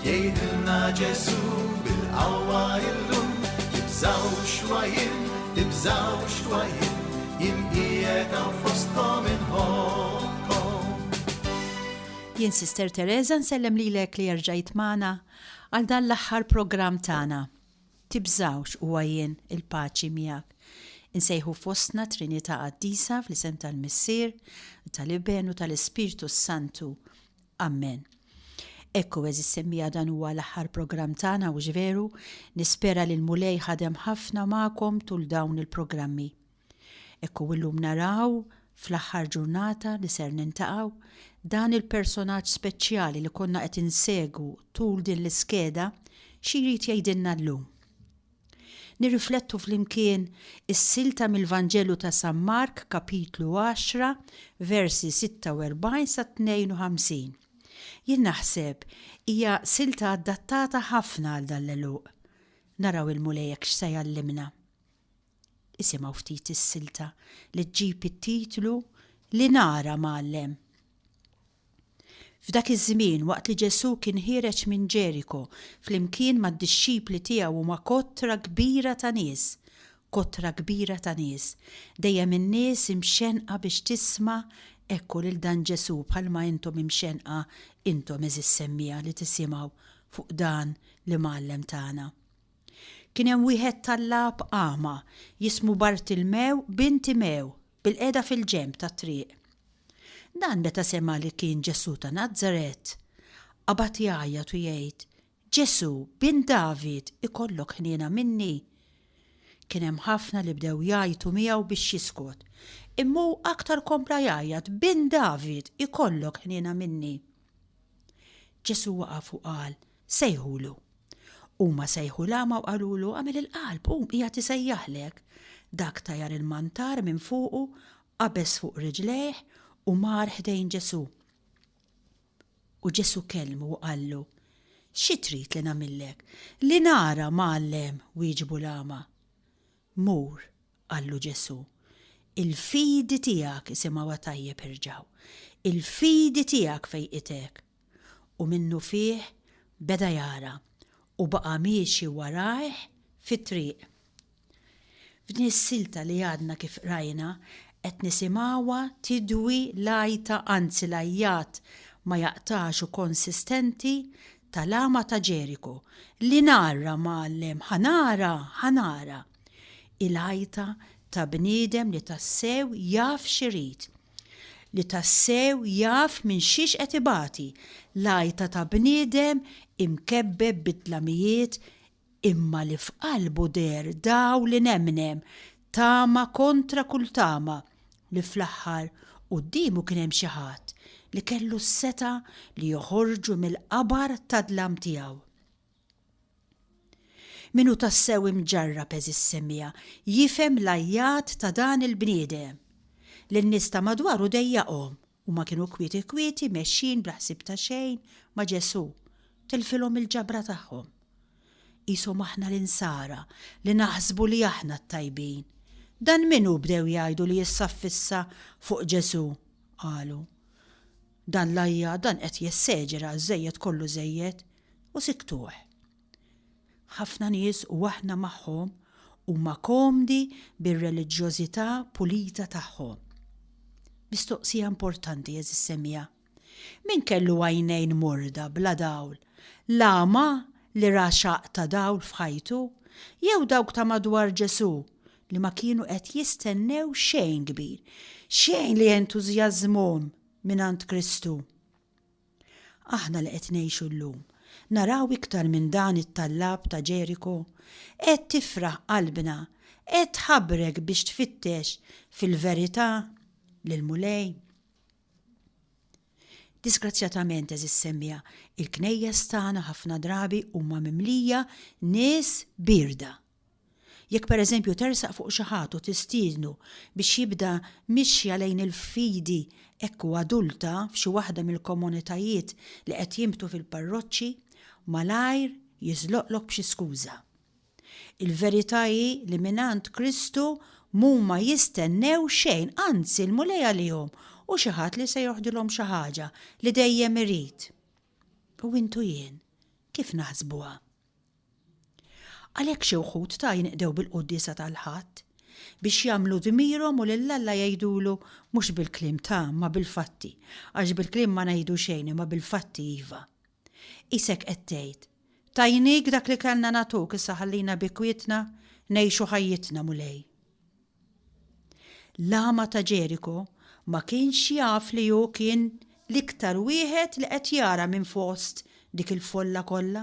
Jgħidilna Ġesu bil-qawwa illum, tibżawx wa jien, tibżawx wa jien, jien qiegħed hawn fostkom inħobbkom. Jien Sister Teresa nsellem lilek li erġajt magħna għal dan l-aħħar programm tagħna. Tibżawx huwa jien il-paċi miegħek. Insejħu fostna Trinità Qaddisa fl-isem tal-Missier, tal-Iben u tal-Ispirtu s-Santu. Ammen. Ekku, għeżież semmiegħa dan huwa l-aħħar programm tagħna hux veru? Nispera li l-Mulej ħadem ħafna magħkom tul dawn il-programmi. Ekku illum naraw, fl-aħħar ġurnata li ser nintaqgħu, dan il-personaġġ speċjali li konna qed insegwu tul din l-iskeda xi jrid jgħidilna llum. Nirriflettu flimkien is-silta mill-Vanġelu ta' San Mark, kapitlu għaxra, versi 46 sa 52. Jien naħseb hija silta adattata ħafna għal dan l-għeluq. Naraw il-Mulej hekk x'se jgħallimna. Isimgħu ftit is-silta li ġġib it-titlu Li nara mgħallem. F'dak iż-żmien, waqt li Ġesù kien ħiereġ minn Ġeriko flimkien mad-dixxipli tiegħu u ma' kotra kbira ta' nies, kotra kbira ta' nies, dejjem in-nies imxennqa biex tisma' hekk u lil dan Ġesù bħalma intom imxennqa intom għeżież semmiegħa li tisimgħu fuq dan l-Imgħallem tagħna. Kien hemm wieħed tal-Għab agħma, jismu Bartilmew bin Timew. bilqiegħda fil-ġenb tat-triq. Dan meta sema' li kien Ġesù ta' Nazaret, qabad jgħajjat u jgħid, Ġesù, bin David, ikollok ħniena minni! Kien hemm ħafna li bdew jgħajtu miegħu biex jiskot, imma hu aktar kompla jgħajjat, Bin David, ikollok ħniena minni! Ġesù waqaf u qal, Sejħulu. Huma sejħu l-agħma u qalulu, Agħmel il-qalb, qum, qiegħed isejjaħlek. Dak tajar il-mantar minn fuqu, qabeż fuq riġlejh u mar ħdejn Ġesù. U Ġesù kellmu u qallu, Xi trid li nagħmillek? Li nara, Mgħallem, wieġbu l-agħma. Mur, qallu Ġesù. Il-fidi tiegħek isimgħuha tajjeb irġgħu. Il-fidi tiegħek fejqitek. u minnufih beda jara u baqa' miexi warajh fit-triq. F'din is-silta li għadna kif qrajna qed nisimgħuha tidwi l-għajta anzi l-għajjat ma jaqtax u konsistenti tal-għama ta' Ġeriku li nara mgħallem ħa nara ħa nara. Hi l-għajta ta' bniedem li tassew jaf x'irid li tassew jaf minn xiex qed ibati, l-għajta ta' bniedem imkebbeb bid-dlamijiet imma li f'qalbu deher dawl inemnem, tama kontra kull tama, li fl-aħħar quddiemu kien hemm xi ħadd li kellu s-setgħa li joħorġu mill-qabar tad-dlam tiegħu. Min hu tassew imġarrab, għeżiż semija, jifhem l-għajjat ta' dan il-bniedem. Lin-nies ta' madwaru dejjaqhom. Huma kienu kwieti kwieti mexjin bla ħsieb ta' xejn ma' Ġesù. Tilfilhom il-ġabra tagħhom. Qishom aħna l-insara li naħsbu li aħna t-tajbin. Dan min hu bdew jgħidu li issa ffissa fuq Ġesù, qalu. Dan l-għajjat, dan qed jesseġera, żejjed kollu żejjed. U sikktuh. Ħafna nies, u aħna magħhom, huma komdi bir-reliġjożità pulita tagħhom. Mistoqsija importanti, għeżież semija. Min kellu għajnejn morda, bla dawl? L-agħma li ra xaqq ta' dawl f'ħajtu? Jew dawk ta' madwar Ġesù li ma kienu qed jistennew xejn kbir, xejn li jentużjażżmhom mingħand Kristu? Aħna li qed ngħixu llum, naraw iktar minn dan it-tallab ta' Ġeriku? Qed tifraħ qalbna? Qed tħabrek biex tfittex fil-verità lill-Mulej? Disgrazzjatament, għeżież semmiegħa, il-knejjes tagħna ħafna drabi huma mimlija nies bierda. Jekk pereżempju tersaq fuq xi ħadd u tistiednu biex jibda mixja lejn il-fidi hekk hu adulta f'xi waħda mill-komunitajiet li qed jinbtu fil-parroċċi, malajr jiżloqlok b'xi skuża. Il-verità hi li mingħand Kristu m'huma jistennew xejn, anzi l-Mulej għalihom hu xi ħadd li se joħdilhom xi ħaġa li dejjem irid. U int u jien kif naħsbuha? Għalhekk xi wħud ta' jinqdew bil-quddiesa tal-Ħadd, biex jagħmlu dmirhom u lil Alla jgħidulu mhux bil-kliem ta' ma bil-fatti, għax bil-kliem ma ngħidu xejn imma bil-fatti iva. Qisek qed tgħid, Tajnik dak li kellna nagħtuk issa ħallina bi kwietna ngħixu ħajjitna, Mulej. L-agħma ta' Ġeriko ma kienx jaf li hu kien l-iktar wieħed li qed jara minn fost dik il-folla kollha,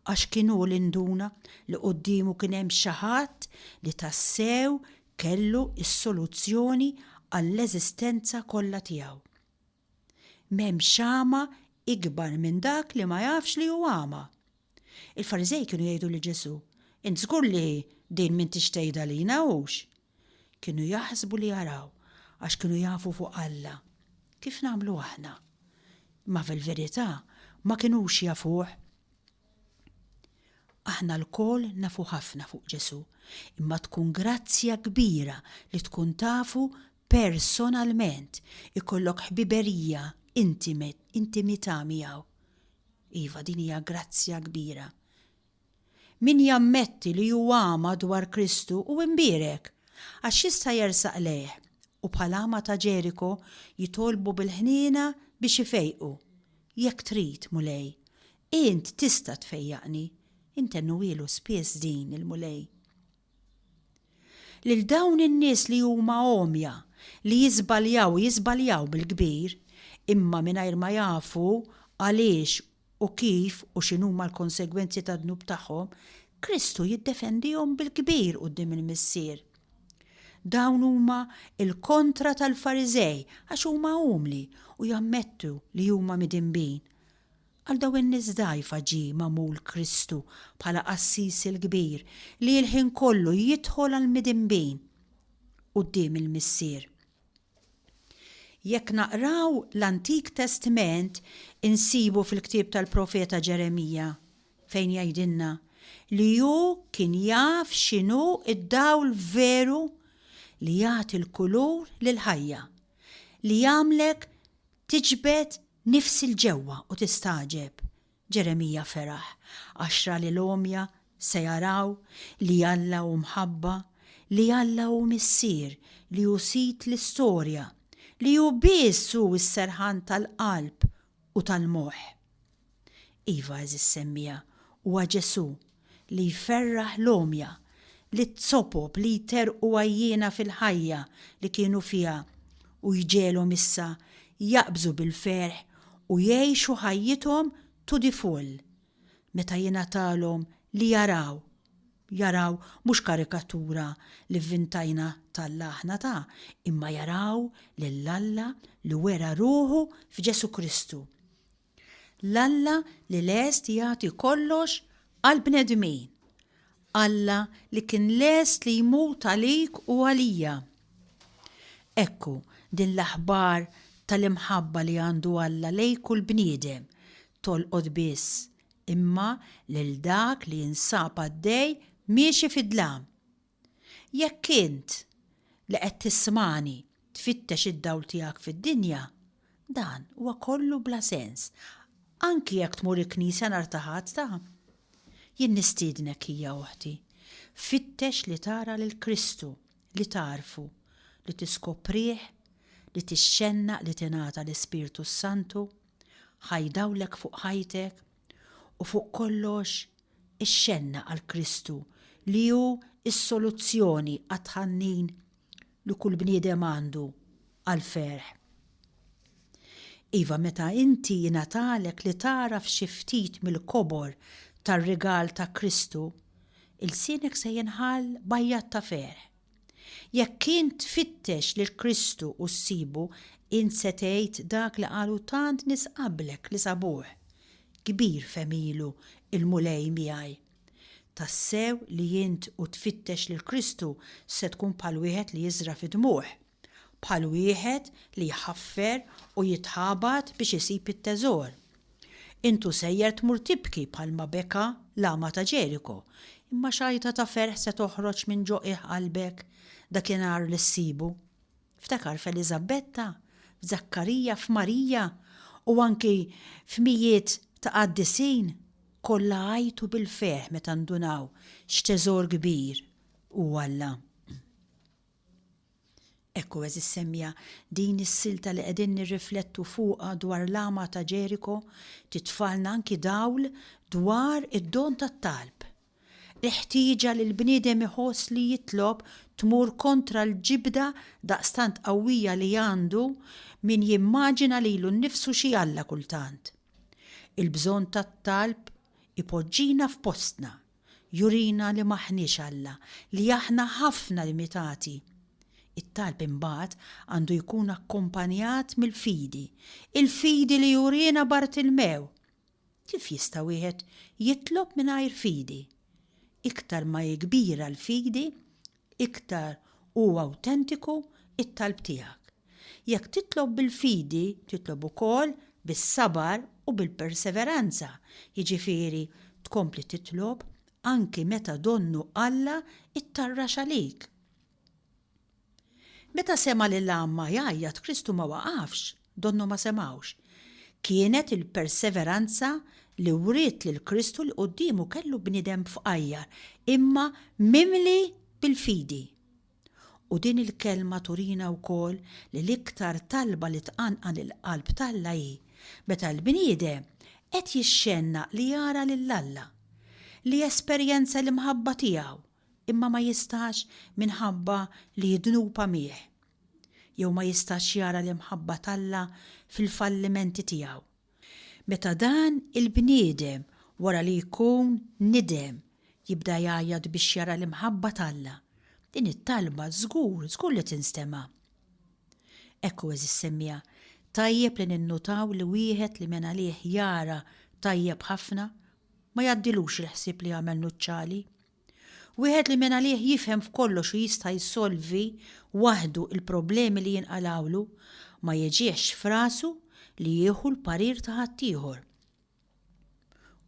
għax kien hu li nduna li quddiemu kien hemm xi ħadd li tassew kellu s-soluzzjoni għall-eżistenza kollha tiegħu. M'hemm xama ikbar minn dak li ma jafx li hu għama. Il-Fariżej kienu jgħidu lil Ġesù, Int żgur li din m'intix tgħidha lina, hux? Kienu jaħsbu li jaraw, għax kienu jafu fuq Alla, kif nagħmlu aħna. Imma fil-verità ma kinux jafuh. Aħna lkoll nafu ħafna fuq Ġesù, imma tkun grazzja kbira li tkun tafu personalment, ikollok ħbiberija intimità miegħu. Iva, din hija grazzja kbira. Min jammetti li hu għama dwar Kristu u imbierek, għax jista' jersaq lejh, u bħal għama ta' Ġeriko jitolbu bil-ħniena biex ifejqu. Jekk trid, Mulej, int tista' tfejjaqni, intennuhielu spiss din il-Mulej. Lil dawn in-nies li huma għomja, li jiżbaljaw u jiżbaljaw bil-kbir, imma mingħajr ma jafu għaliex u kif u x'inhuma l-konsegwenzi tad-dnub tagħhom, Kristu jiddefendihom bil-kbir quddiem il-Missier. Dawn huma l-kontra tal-Fariżej għax huma umli u jammettu li huma midinbin. Għal dawn in-nies dgħajfa ġie magħmul Kristu bħala Qassis il-Kbir li l-ħin kollu jidħol għall-midinbin quddiem il-Missier. Jekk naqraw l-Antik Testment insibu fil-ktieb tal-Profeta Ġeremija fejn jgħidilna li hu kien jaf x'inhu d-dawl veru li jagħti l-kulur lill-ħajja, li jagħmlek Tiġbed nifsi 'l ġewwa u tistagħġeb, Ġeremija feraħ għax ra li l-għomja se jaraw li Alla hu mħabba, li Alla hu Missier, li hu Sid l-istorja, li hu biss hu s-serħan tal-qalb u tal-moħħ. Iva, għeżież semmiegħa, huwa Ġesù, li jferraħ l-għomja, liz-zopop li jterrqu għajjiena fil-ħajja li kienu fiha u jġegħelhom issa jaqbżu bil-ferħ u jgħixu ħajjithom to the full meta jingħatalhom li jaraw, jaraw mhux karikatura li vvintajna t'Alla aħna ta, imma jaraw lil Alla li wera ruħu f'Ġesù Kristu. L-Alla li lest jagħti kollox għall-bnedmin. Alla li kien lest li jmut għalik u għalija. Ekku din l-aħbar tal-imħabba li għandu Alla lej kull bniedem tolqot biss imma lil dak li jinsab għaddej miexi fid-dlam. Jekk int, li qed tismagħni, tfittex id-dawl tiegħek fid-dinja, dan huwa kollu bla sens, anki jekk tmur il-knisja nhar ta' Ħadd ta'. Jien nistiednek, ħija oħti, fittex li tara lil Kristu, li tagħrfu, li tiskoprih, li tixxennaq li tingħata l-Ispirtu s-Santu, ħaj dawlek fuq ħajtek, U fuq kollox, ixxenna għal Kristu li hu s-soluzzjoni għat-tħannin li kull bniedem għandu għall-ferħ. Iva, meta inti jingħatalek li tagħraf xi ftit mill-kobor tar-rigal ta' Kristu, ilsienek se jinħall b'għajjat ta' ferħ. Jekk int tfittex lil Kristu u ssibu, int se tgħid dak li qalu tant nies qablek li sabuh, Kbir f'għemilu l-Mulej miegħi. Tassew li int u tfittex lil Kristu se tkun bħal wieħed li jiżra' fid-dmugħ. bħal wieħed li jħaffer u jitħabat biex isib it-teżor. Int u sejjer tmur tibki bħalma beka l-agħma ta' Ġeriko, imma xajta ta' ferħ se toħroġ minn ġo qiegħ qalbek dakinhar li ssibu. Ftakar f'Eliżabetta, f'Żakkarija, f'Marija, u anki f'mijiet ta' qaddisin, kollha għajtu bil-ferħ meta ndunaw x'teżor kbir hu Alla. Ekku, għeżież semja, din is-silta li qegħdin nirriflettu fuqha dwar l-għama ta' Ġeriko titfagħalna anki dawl dwar id-don tat-talb. Il-ħtieġa li l-bniedem iħoss li jitlob tmur kontra l-ġibda daqstant qawwija li għandu min jimmaġina lilu nnifsu xi alla kultant. Il-bżonn tat-talb ipoġġina f'postna, jurina li m'aħniex Alla, li aħna ħafna limitati. It-talb imbagħad għandu jkun akkumpanjat mill-fidi, il-fidi li jurina Bartilmew. Kif jista' wieħed jitlob mingħajr fidi? Iktar ma hi kbira l-fidi, iktar u awtentiku t-talb tiegħek. Jekk titlob bil-fidi, titlob ukoll bis-sabar u bil-perseveranza, jiġifieri tkompli titlob anki meta donnu Alla ttarrax għalik. Meta sema' lil għammha jgħajjat Kristu ma waqafx, Donnhom ma semgħux. Kienet il-perseveranza li wriet lil Kristu li quddiemu kellu bniedem b'fqajjar, imma mimli bil-fidi. U din il-kelma turina wkoll li l-iktar talba li tqanqal il-qalb t'Alla hi meta l-bniedem qed jixxennaq li jara lil Alla, li jesperjenza l-imħabba tiegħu, imma ma jistax minħabba li jdnub għamih. jew ma jistax jara l-imħabba t'Alla fil-fallimenti tiegħu. Meta dan il-bniedem wara li jkun nidem jibda jgħajjat biex jara l-imħabba t'Alla, din it-talba żgur, żgur li tinstema'. Ekku, għeżież semmiegħa, tajjeb li ninnutaw li wieħed li minn għalih jara tajjeb ħafna, ma jgħaddilux il-ħsieb li jagħmel nuċċali. Wieħed li mingħalih jifhem f'kollox u jista' jsolvi waħdu l-problemi li jinqalgħulu, ma jiġihx f'rasu li jieħu l-parir ta' ħaddieħor.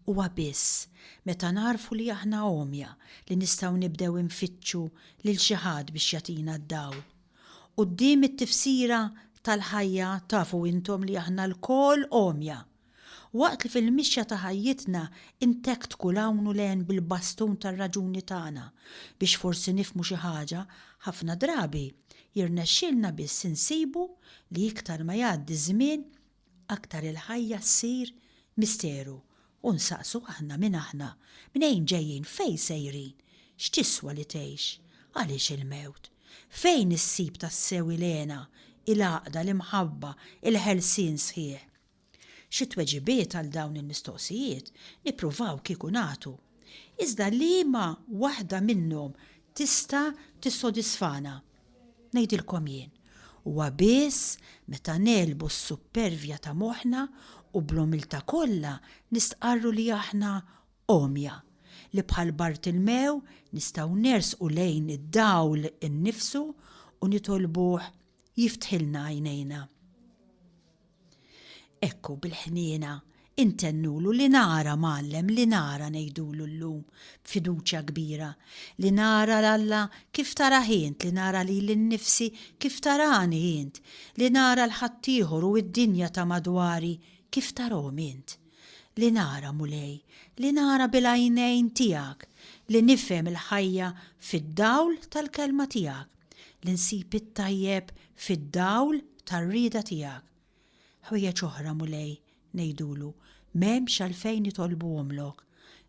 Huwa biss meta nagħrfu li aħna għomja li nistgħu nibdew infittxu lil xi ħadd biex jagħtina d-dawl. Quddiem it-tifsira tal-ħajja tafu intom li aħna lkoll għomja. Waqt li fil-mixja ta' ħajjitna ntektku 'l hawn u 'l hemm bil-bastun tar-raġuni tagħna biex forsi nifhmu xi ħaġa, ħafna drabi jirnexxilna biss insibu li iktar ma jgħaddi ż-żmien aktar il-ħajja ssir misteru u nsaqsu aħna min aħna, mnejn ġejjin, fejn sejrin, x'tiswa li tgħix, għaliex il-mewt, fejn issib tassew il-hena, il-għaqda, l-imħabba, il-ħelsien sħiħ. Xi tweġibiet għal dawn il-mistoqsijiet nippruvaw kieku nagħtu. Iżda liema waħda minnhom tista' tissodisfana? Ngħidilkom jien, huwa biss meta negħlbu s-suppervja ta' moħħna u bl-umiltà kollha nistqarru li aħna għomja, li bħal Bartilmew nistgħu nersqu lejn id-dawl innifsu u nitolbuh jiftħilna għajnejna. Ekku bil-ħniena intennulu li nara mgħallem li nara ngħidulu llum b'fiduċja kbira li nara 'l Alla kif tarah int li nara lili nnifsi kif tarani int li nara 'l ħaddieħor u d-dinja ta' madwari kif tarahom int li nara Mulej li nara bil-għajnejn tiegħek li nifhem il-ħajja fid-dawl tal-kelma tiegħek. li nsib it-tajjeb fid-dawl tar-rieda tiegħek. Ħwejjeġ oħra, Mulej, ngħidulu, m'hemmx għalfejn nitolbuhomlok,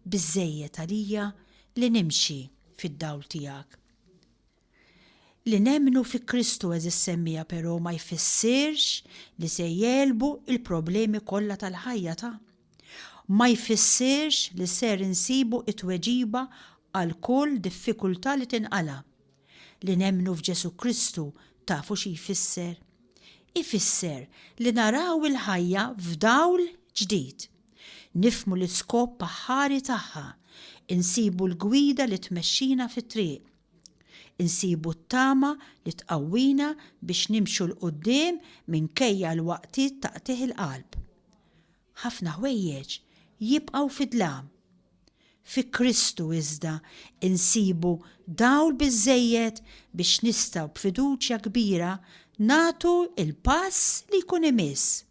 biżżejjed għalija li nimxi fid-dawl tiegħek. Li nemmnu fi Kristu eżis semmija però ma jfissirx li se jelbu il-problemi kollha tal-ħajja ta' ma jfissirx li ser insibu it-tweġiba għal kull diffikultà li tinqala'. Li nemmnu f'Ġesù Kristu tafu xi jfisser? Ifisser li naraw il-ħajja f'dawl ġdid. Nifhmu l-iskop aħħari tagħha, insibu l-gwida li tmexxina fit-triq. Insibu t-tama li tqawwina biex nimxu 'l quddiem minkejja l-waqtiet ta' qtigħ il-qalb. Ħafna ħwejjeġ jibqgħu fid-dlam. Fi Kristu iżda nsibu dawl biżżejjed biex nistgħu b'fiduċja kbira nagħtu l-pass li jkun imiss.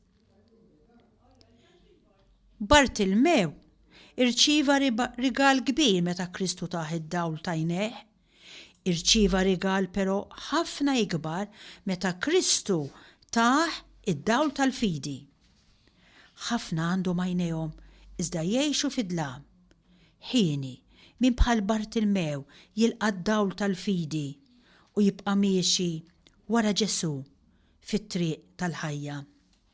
Bartilmew irċieva rigal kbir meta Kristu tah id-dawl t'għajnejh Irċieva rigal però ħafna ikbar meta Kristu tah id-dawl tal-fidi. Ħafna għandhom għajnejhom iżda jgħixu fid-dlam. Hieni, min bħal Bartilmew jilqa' d-dawl tal-fidi u jibqa' miexi wara Ġesù fit-triq tal-ħajja?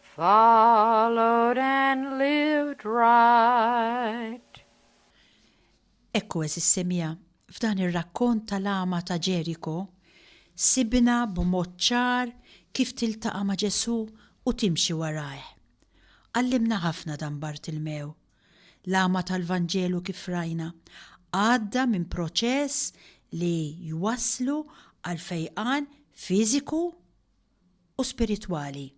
followed and lived right. Ekku eżis semija, f'dan ir-rakkont tal-għama ta' Ġeriko, sibna b'mod ċar kif tiltaqa' ma' Ġesù u timxi warajh. Għallimna ħafna dan Bartilmew. L-għama tal-Vanġelu kif rajna, għadda minn proċess li jwasslu għal fejqan fiżiku u spiritwali.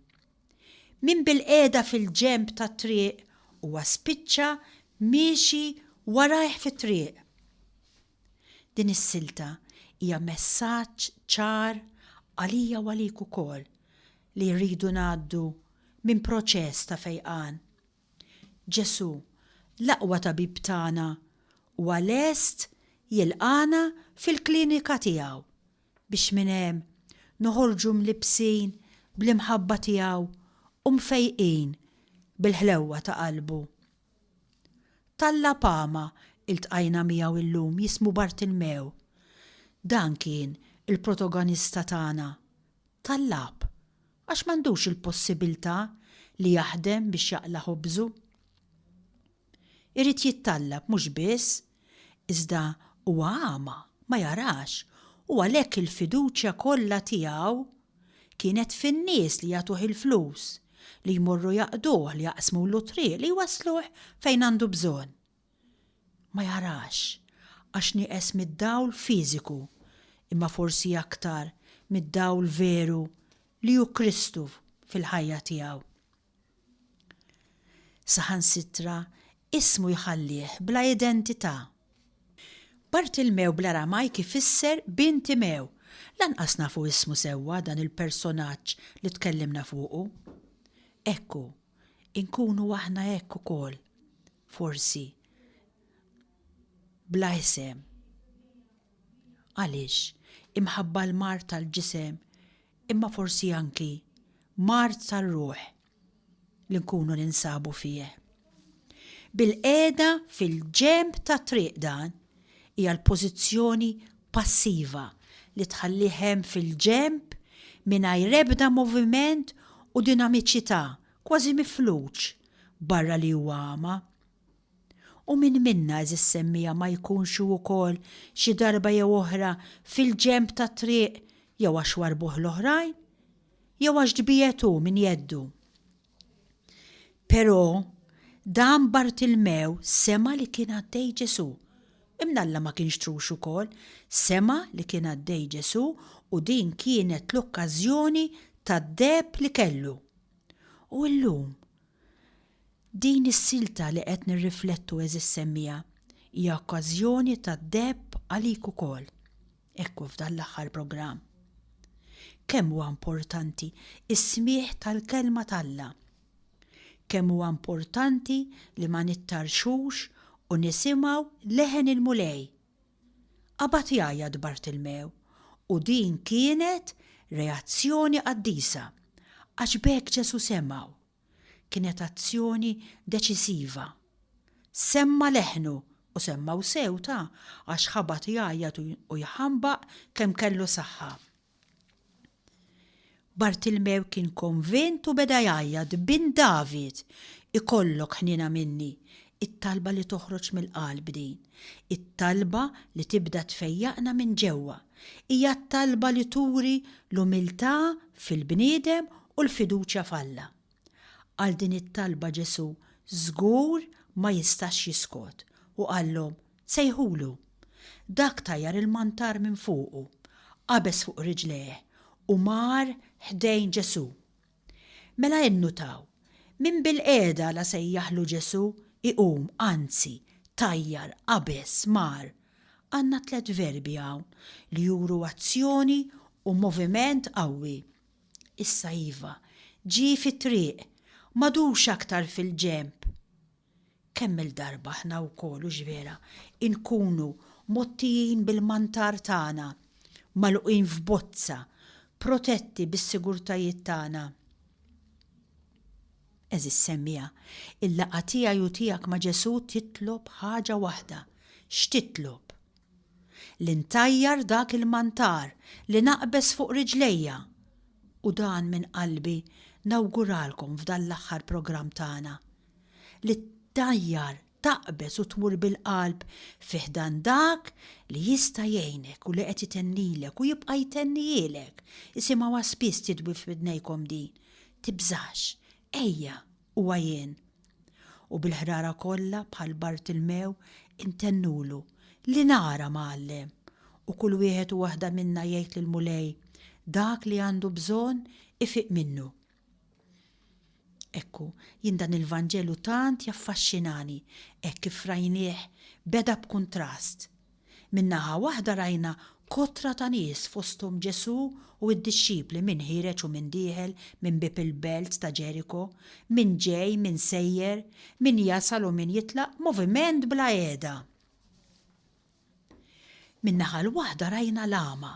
Min bilqiegħda fil-ġenb tat-triq huwa spiċċa miexi warajh fit-triq. Din is-silta hija messaġġ ċar għalija u għalik ukoll li rridu ngħaddu minn proċess ta' fejqan. Ġesù, l-aqwa tabib tagħna, huwa lest jilqagħna fil-klinika tiegħu biex minn hemm noħorġu mlibbsin bl-imħabba tiegħu u mfejqin bil-ħlewwa ta' qalbu. T'Alla Pama iltqajna miegħu illum jismu Bartilmew. Dan kien il-protogonista tagħna, tal-lab, għax m'għandux il-possibiltà li jaħdem biex jaqla' ħobżu. Irid jittallab mhux biss, iżda huwa għama, ma jarax, u għalhekk il-fiduċja kollha tiegħu kienet fin-nies li jagħtuh il-flus, li jmorru jaqduh, li jaqsmulu t-triq, li jwassluh fejn għandu bżonn. Ma jarax, għax nieqes mid-dawl fiżiku, imma forsi aktar mid-dawl veru li hu Kristu fil-ħajja tiegħu. Saħansitra ismu jħallih bla identità. Bartilmew bl-Aramajk ifisser Bin Timew. Lanqas nafu ismu sewwa dan il-personaġġ li tkellimna fuqu. Hekk hu. Inkunu aħna hekk ukoll, forsi, bla isem. Għaliex? Imħabba l-mard tal-ġisem imma forsi anki mard tar-ruħ li nkunu ninsabu fih. Bilqiegħda fil-ġenb tat-triq dan hija l-pożizzjoni passiva li tħallih hemm fil-ġenb mingħajr ebda moviment u dinamiċità, kważi mifluġ, barra li huwa għama. U min minna, għeżiż semmiegħa, ma jkunx hu wkoll xi darba jew oħra fil-ġenb tat-triq jew għax warbuh l-oħrajn, jew għax tbiegħed hu minn jeddu? Però, dan Bartilmew sema' li kien għaddej Ġesù. Imnalla ma kienx trux ukoll, sema' li kien għaddej Ġesù u din kienet l-okkażjoni tad-deheb li kellu. U llum? Din is-silta li qed nirriflettu għeżież semmiegħa hija okkażjoni tad-deheb għalik ukoll, hekk hu f'dan l-aħħar programm. Kemm huwa importanti s-smigħ tal-Kelma t'Alla! Kemm huwa importanti li ma nittarrxux u nisimgħu leħen il-Mulej! Qabad jgħajjat Bartilmew u din kienet reazzjoni qaddisa għax b'hekk Ġesù semgħu. Kienet azzjoni deċisiva. Semma' leħnu u semmgħu sewta għax ħabat jgħajjat u jħambaq kemm kellu saħħa. Bartilmew kien konvint u beda jgħajjat, Bin David, ikollok ħniena minni! It-talba li toħroġ mill-qalb din. It-talba li tibda tfejjaqna minn ġewwa. hija t-talba li turi l-umiltà fil-bniedem u l-fiduċja f'Alla. Għal din it-talba Ġesù żgur ma jistax jiskot u qallhom, Sejħulu. Dak tajjar il-mantar minn fuqu, qabeż fuq riġlejh u mar ħdejn Ġesù. Mela innutaw, min bilqiegħda la sejjaħlu Ġesù iqum, anzi, tajjar, qabeż, mar. Għandna tliet verbi hawn li juru azzjoni u moviment qawwi. Issa iva, ġie fit-triq, m'għadux aktar fil-ġenb. Kemm-il darba aħna wkoll, hux vera, inkunu mgħottijin bil-mantar tagħna, magħluqin f'bozza, protetti bis-sigurtajiet tagħna? Għeżież semmiegħa, il-laqgħa tiegħi u tiegħek ma' Ġesù titlob ħaġa waħda. X'titlob? Li ntajjar dak il-mantar, li naqbeż fuq riġlejja! U dan minn qalbi nawguralkom f'dan l-aħħar programm tagħna. li ttajjar, taqbeż u tmur bil-qalb fi ħdan dak li jista' jgħinek u li qed itennilek u jibqa' jtennihielek, isimgħuha spiss tidwi f'widnejkom din, Tibżax, ejja, huwa jien. U bil-ħrara kollha bħal Bartilmew intennulu, Li nara, Mgħallem! U kull wieħed u waħda minna jgħid lill-Mulej dak li għandu bżonn ifiq minnu. Ekku, jien dan il-Vanġelu tant jaffaxxinani, hekk kif rajnieh beda b'kuntrast. Minn naħa waħda rajna kotra ta' nies fosthom Ġesù u d-dixxipli min ħiereġ u min dieħel minn bieb il-belt ta' Ġeriko, min ġej, min sejjer, min jasal u min jitlaq, moviment bla qiegħda. Min-naħa l-waħda rajna l-agħma,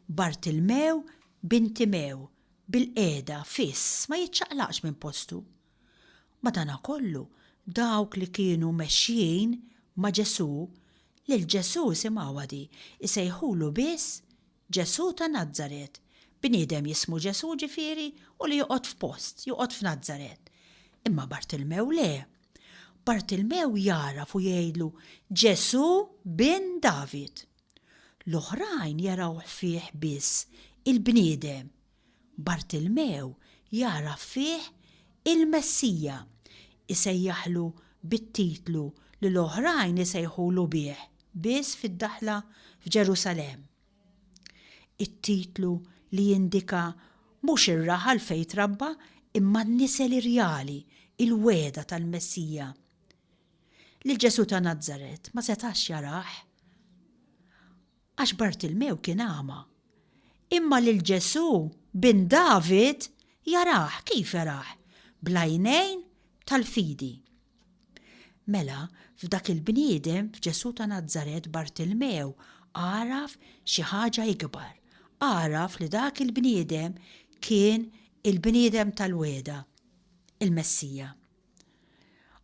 Bartilmew bin Timew, bilqiegħda, fiss, ma jiċċaqlaqx minn postu. Madankollu, dawk li kienu mexjin ma' Ġesù, lil Ġesù, isimgħuha di, isejħulu biss Ġesù ta' Nazaret. Bniedem jismu Ġesù, ġifieri, u li joqgħod f'post, joqgħod f'Nazaret. Imma Bartilmew le. Bartilmew jagħraf u jgħidlu, Ġesù, Bin David! L-oħrajn jarawh fih biss il-bniedem, Bartilmew jagħraf fih il-Messija, isejjaħlu bit-titlu li l-oħrajn isejħulu bih biss fid-daħla f'Ġerusalemm. It-titlu li jindika mhux ir-raħal fejn trabba imma n-nisel irjali, il-wegħda tal-Messija. Lil Ġesù ta' Nazaret ma setax jarah. għax Bartilmew kien agħma. Imma lil Ġesù, bin David, jarah, kif jarah? Bl-għajnejn tal-fidi. Mela, f'dak il-bniedem, f'Ġesù ta' Nazaret, Bartilmew għaraf xi ħaġa ikbar. Għaraf li dak il-bniedem kien il-bniedem tal-wegħda, il-Messija.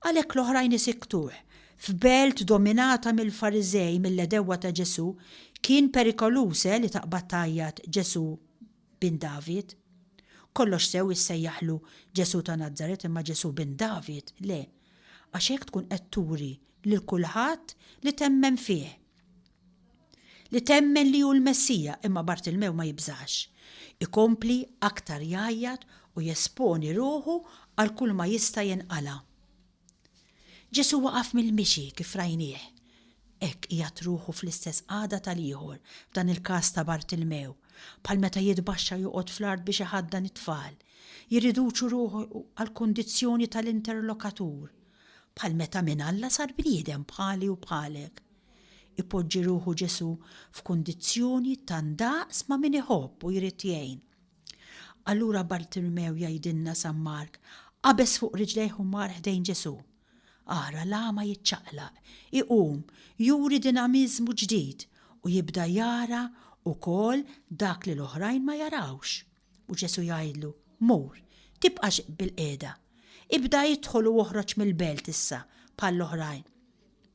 Għalhekk l-oħrajn isiktuh. F'belt dominata mill-Fariżej, mill-għedewwa ta' Ġesù, kien perikoluż, eh, li taqbad tgħajjat Ġesù Bin David. Kollox sew issejjaħlu Ġesù ta' Nazaret imma Ġesù Bin David, le, għax hekk tkun qed turi lil kulħadd li temmen fih. li temmen li hu l-Messija, imma Bartilmew ma jibżax. Ikompli aktar jgħajjat u jesponi ruħu għal kulma jista' jinqala'. Ġesù waqaf mill-mixi kif rajnieh. Hekk qiegħed ruħu fl-istess qagħda tal-ieħor, f'dan il-każ ta' Bartilmew, bħal meta jitbaxxa joqgħod fl-art biex iħaddan it-tfal, jirriduċu ruħu għall-kundizzjoni tal-interlokatur, Bħal meta minn Alla sar bniedem bħali u bħalek. Ipoġġi ruħu Ġesù f'kundizzjoni ta' ndaqs ma' min iħobb u jrid jgħin. Allura Bartilmew jgħidilna San Mark, qabeż fuq riġlejh u mar ħdejn Ġesù. Ara l-agħma jiċċaqlaq, iqum, juri dinamiżmu ġdid u jibda jara ukoll dak li l-oħrajn ma jarawx. U Ġesù jgħidlu, Mur, tibqax bilqiegħda. Ibda idħol u oħroġ mill-belt issa bħall-oħrajn.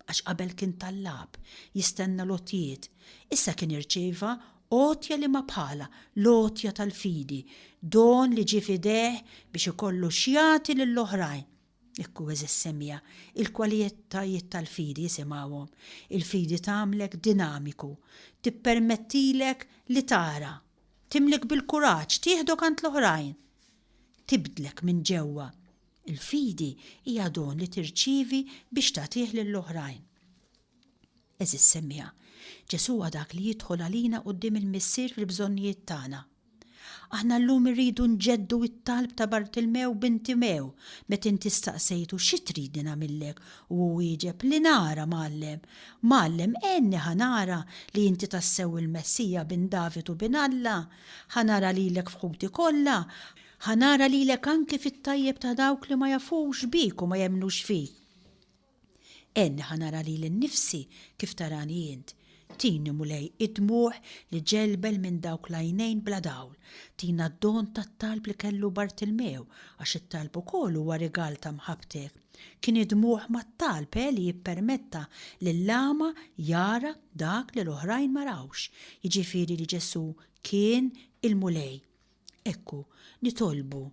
Għax qabel kien tallab, jistenna l-għotjiet, issa kien irċieva għotja li ma bħalha, l-għotja tal-fidi, don li ġie f'idejh biex ikollu x'jagħti lill-oħrajn. Ikku eżis semija, il-kwalitajiet tal-fidi jisimgħuhom. Il-fidi tagħmlek dinamiku, tippermettilek li tara, Timlik bil-kuraġġ tieħdok għand l-oħrajn. Tibdlek minn ġewwa. Il-fidi hija don li tirċievi biex tagħtih lill-oħrajn. Għeżież semmiegħa, Ġesù huwa dak li jidħol għalina quddiem il-Missier fil-bżonnijiet tagħna. Aħna llum irridu nġeddu t-talb ta' Bartilmew bin Timew meta inti staqsejtu xi tridni nagħmillek u hu wieġeb li nara, Mgħallem, Mgħallem, għenni ħa nara li inti tassew il-Messija bin David u bin Alla, ħa nara lilek f'ħuti kollha, ħa nara lilek anki fit-tajjeb ta' dawk li ma jafux bik u ma jemmnux fik. Għenni ħa nara lili nnifsi kif tarani int. Tini, Mulej, id-dmugħ li ġelbel minn dawk l-għajnejn bla dawl. Tina d-don tat-talb li kellu Bartilmew, għax it-talb ukoll huwa rigal ta' mħabbtek. Kien id-dmugħ mat-talb eh li jippermetta lill-agħma jara dak li l-oħrajn ma rawx, jiġifieri li Ġesù kien il-Mulej. Ekku, nitolbu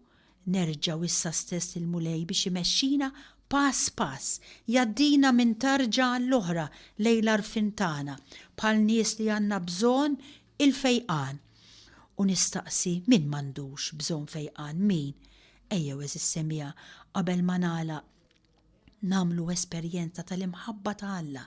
nerġgħu issa stess lill-Mulej biex imexxina pass pass, jgħaddina minn tarġa għall-oħra lejn l-għarfien tagħna, bħal nies li għandna bżonn il-fejqan. U nistaqsi min m'għandux bżonn fejqan, min? Ejjew għeżież semija, qabel ma nagħlaq, nagħmlu esperjenza tal-imħabba ta' Alla,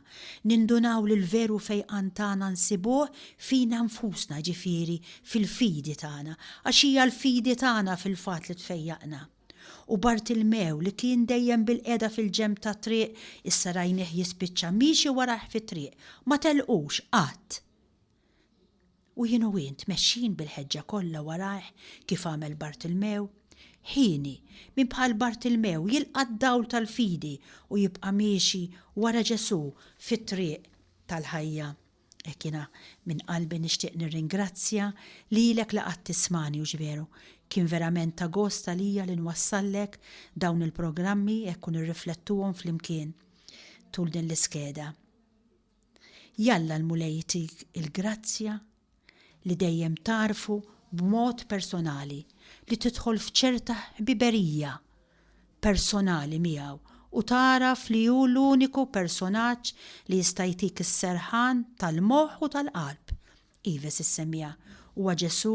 nindunaw li l-veru fejqan tagħna nsibuh fina nfusna jiġifieri fil-fidi tagħna, għax hija l-fidi tagħna fil-fatt li tfejjaqna. U Bartilmew, li kien dejjem bilqiegħda fil-ġenb tat-triq, issa rajnieh jispiċċa miexi warajh fit-triq. Ma telqux, qatt! U jien u int mexjin bil-ħeġġa kollha warajh kif għamel Bartilmew? Ħini, min bħal Bartilmew jilqa' d-dawl tal-fidi u jibqa' miexi wara Ġesù fit-triq tal-ħajja? Hekk jiena minn qalbi nixtieq nirringrazzja lilek li qgħadt tismagħni hux veru? Kien verament ta' gost għalija li nwassallek dawn il-programmi hekk u nirriflettuhom flimkien tul din l-iskeda. Jalla l-Mulej jtik il-grazzja li dejjem tagħrfu b'mod personali, li tidħol f'ċerta ħbiberija personali miegħu u tagħraf li hu l-uniku personaġġ li jista' jtik is-serħan tal-moħħ u tal-qalb. Ives issemmiha, Huwa Ġesù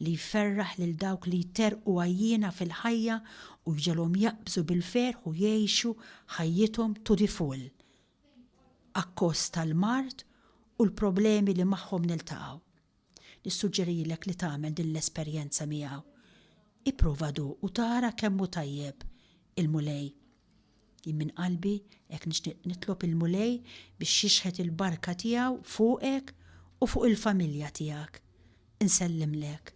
li jferraħ lil dawk li jterrqu għajjiena fil-ħajja u jġegħolhom jaqbżu bil-ferħ u jgħixu ħajjithom to the full. akkost tal-mard u l-problemi li magħhom niltaqgħu. Nissuġġerilek li tagħmel din l-esperjenza miegħu. Ipprova duq u tara kemm hu tajjeb il-Mulej. Jien minn qalbi hekk nixtieq nitlob il-Mulej biex jixħet il-barka tiegħu fuqek u fuq il-familja tiegħek. Insellimlek.